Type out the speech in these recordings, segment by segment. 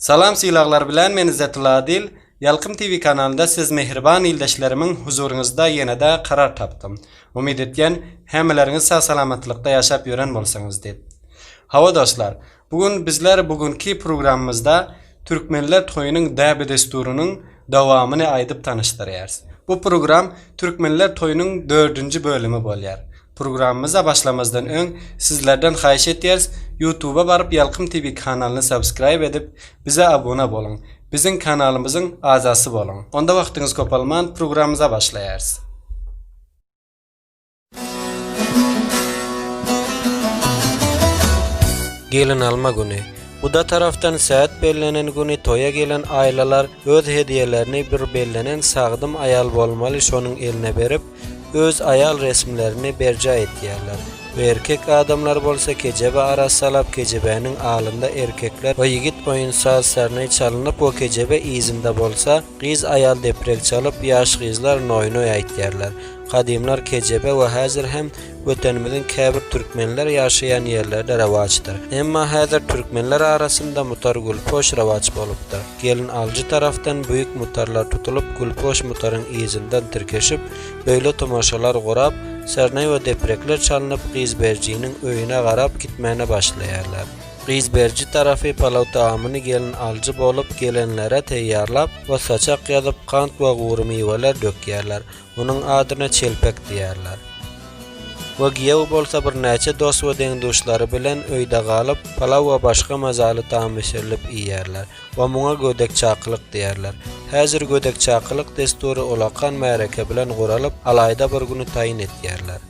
Salam sylaglar bilen men Izzatilla Adil Ýalkym TV kanalynda siz mähriban ildeşlerimiň huzuryňyzda ýenede karar tapdym. Umyt etýän hämeleriňiz sag salamatlykda ýaşap ýören bolsaňyz diýip. Hawa dostlar bu gün bizler bu günki programymyzda Türkmenler toýunyň däbi desturynyň dowamyny aýdyp tanyşdyrýarys. Bu program Türkmenler toýunyň dördünji bölümi bolýar. Programmamyza başlamazdan öň sizlerden haýyş etýäris ýutuba baryp ýalkym tv kanalyny subscribe edip bize abuna boluň biziň kanalymyzyň azasy boluň onda wagtyňyz kopalman programmamyza başlaýarys. Gelin alma güni. Guda tarafdan saat bellenen güni toýa gelen aýlalar öz hediýelerini bir bellenen sagdyn aýal bolmaly şonuň eline berip, öz aýal resmlerini berjaý etýärler we erkek adamlar bolsa kejebe arak salap kejebäniň alynda erkekler we ýigit oýun saz serney çalynyp we kejebe yzynda bolsa gyz aýal deprek çalyp ýaş gyzlar noýnoý aýtýarlar gadymlar kejebe we häzir hem Wetenimiziň käbir türkmenler ýaşaýan ýerlerde rewaçdyr emma häzir türkmenler arasynda mutar gülpoş rewaç bolupdyr. Gelin alyjy tarapdan büýük mutarlar tutulyp, gülpoş mutaryň yzyndan tirkeşip, beýle tomaşalar gurap, sernay we deprekler çalnyp, gyz berijiniň öýüne garap gitmäne başlaýarlar. Gyz beriji tarapy palaw tagamyny gelin alyjy bolup gelenlere teýýarlap, we saçak ýazyp, kant we gury miweler dökýärler. Munuň adyna çelpek diýerler. We giýew bolsa birnäçe dost we deň-duşlary bilen öýde galyp, palaw we başga mazaly taam bişirilip iýerler we muňa gödek-çakylyk diýerler. Häzir gödek-çakylyk dessury ulakan märeke bilen guralyp, alaýda bir güni taýyn etýärler.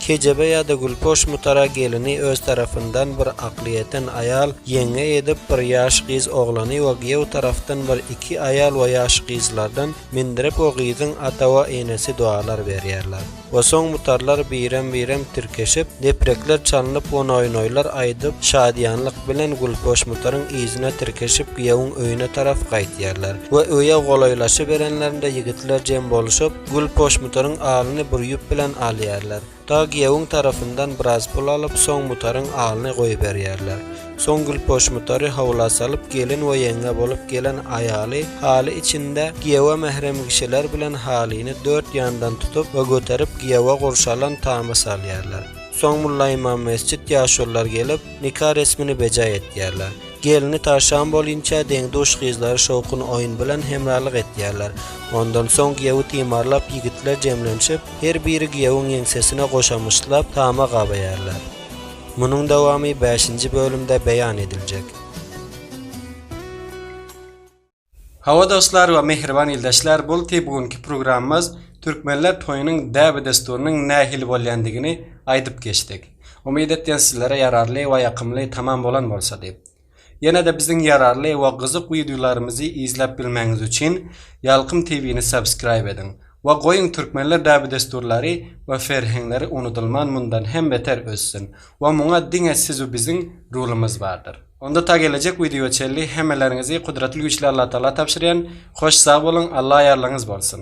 Kejebe ýa-da Gülpoş mutara gelini öz tarapyndan bir akly ýeten aýal, ýeňňe edip, bir ýaş gyz oglany we giýew tarapdan bir iki aýal we ýaş gyzlardan mindirip we gyzyň ata we enesi dualar berýärler. We soň mutarlar birem-birem tirkeşip, deprekler çalnyp we noýnoýlar aýdyp, şadyýanlyk bilen Gülpoş mutaryň yzyna tirkeşip giýewiň öýüne tarap gaýtýarlar. We öýe golaýlaşyberenlerinde ýigitler jem bolşup, Gül poşmutaryň alyny bir ýüp bilen alýarlar. Dag giýewiň tarapyndan biraz pul alyp, soň mutaryň alyny goýberýärler. Soň gül poşmutary howla salyp, gelin we ýeňňe bolup gelen aýaly haly içinde giýewe mährem kişiler bilen halyny dört ýandan tutup we göterip giýewe gurşalan tama salýarlar. Soň mullaimam mesjit ýaşulylar gelip, nika resmini bejaý etýärler. Gelini taşan bolinçä deň-duş gyzlary şowkun oýun bilen hemralyk etýärler. Ondan soň giýewi timarlap ýigitler jemlenşip, her biri giýewiň ýeňsesine goşamyşlap, tama gabaýarlar. Munuň dowamy bäşinji bölümde beýan ediljek. Hawa dostlar we mähriban ildeşler bulti bu günki programmaz Türkmenler toýunyň däbi desturynyň nähili bolýandigini aýdyp geçdik. Umyt etýän sizlere ýararly we ýakymly tamam bolan bolsa diýip. Ýenede biziň ýararly we gyzyk wideolarymyzy izläp bilmäňiz üçin Ýalkym TVni subscribe ediň we goýuň Türkmenler däbi desturlary we ferheňleri unudylman mundan hem beter össün we muňa diňe sizu biziň rulymyz bardyr. Onda ta gelejek wideoya çenli hemmeleriňizi Kudratly Güýçli Allatagala tabşyrýan, hoş sag boluň, Alla ýarlygyňyz bolsun!